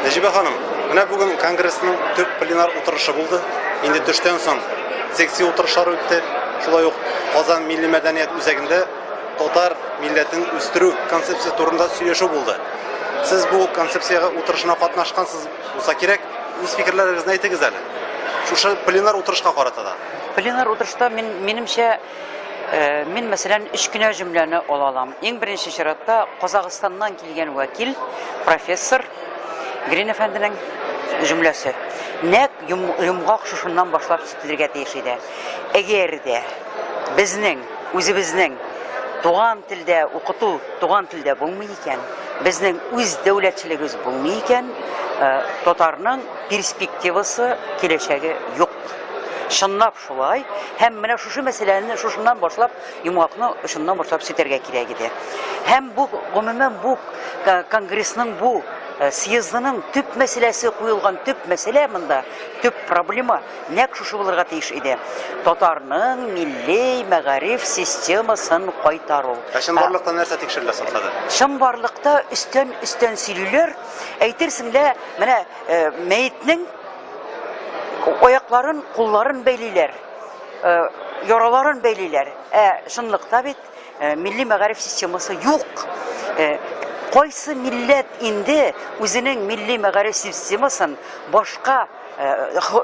Нәҗибә ханым, менә бүген конгрессның төп пленар утырышы булды. Инде төштән соң секция утырышлары үтте. Шулай ук Казан милли мәдәният үзәгендә татар милләтен үстерү концепциясе турында сөйләшү булды. Сез бу концепциягә утырышына катнашкансыз булса кирәк, үз фикерләрегезне әйтегез әле. Шушы пленар утырышка карата да. Пленар утырышта мин, минемчә, Э, мин мәсәлән өч кенә җөмләне ала алам иң беренче чиратта казахстаннан килгән вәкил профессор грин әфәнденең җөмләсе нәк йомгак шушыннан башлап сүтелергә тиеш иде әгәр дә безнең үзебезнең туган телдә укыту туган телдә булмый икән безнең үз дәүләтчелегебез булмый икән э, татарның перспективасы киләчәге юк чынлап Шулай, һәм менә шушы мәсьәләне шушыннан башлап, йомгакны шуннан башлап сүтәргә кирәк иде. Һәм бу, гомумән, бу конгрессның бу Э, съездының төп мәсьәләсе куелган төп мәсьәлә монда төп проблема нәкъ шушы булырга тиеш иде татарның милли мәгариф системасын кайтару ә чынбарлыкта нәрсә тикшерелә соң хәзер чынбарлыкта өстән өстән сөйлиләр әйтерсең лә менә э, мәетнең Аякларын, кулларын бәйлиләр, э, яраларын бәйлиләр. Ә чынлыкта бит э, милли мәгариф системасы юк. Э, кайсы милләт инде үзенең милли мәгариф системасын башка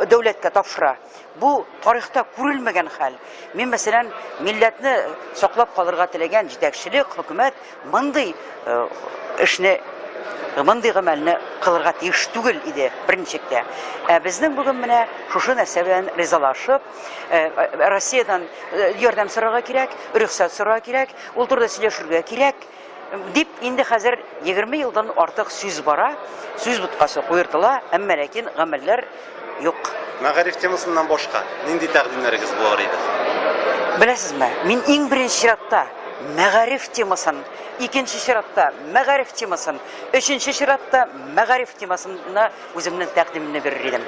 дәүләткә тапшыра? Бу тарихта күрелмәгән хәл. Мин, мәсәлән, милләтне саклап калырга теләгән җитәкчелек, хөкүмәт мондый э, эшне мондый гамәлне кылырга тиеш түгел иде беренчектә. Ә безнең бүген менә шушы нәрсә белән ризалашып, э, э, Россиядән ярдәм сорарга кирәк, рөхсәт сорарга кирәк, ул турыда сөйләшергә кирәк. Дип, инде хәзер 20 елдан артык сүз бара, сүз боткасы куертыла, әмма ләкин гамәлләр юк. Мәгариф темасыннан башка нинди тәкъдимнәрегез булыр иде? Беләсезме, мин иң беренче чиратта мәгариф темасын, икенче чиратта мәгариф темасын, өченче чиратта мәгариф темасына үземнең тәкъдимемне бирер идем.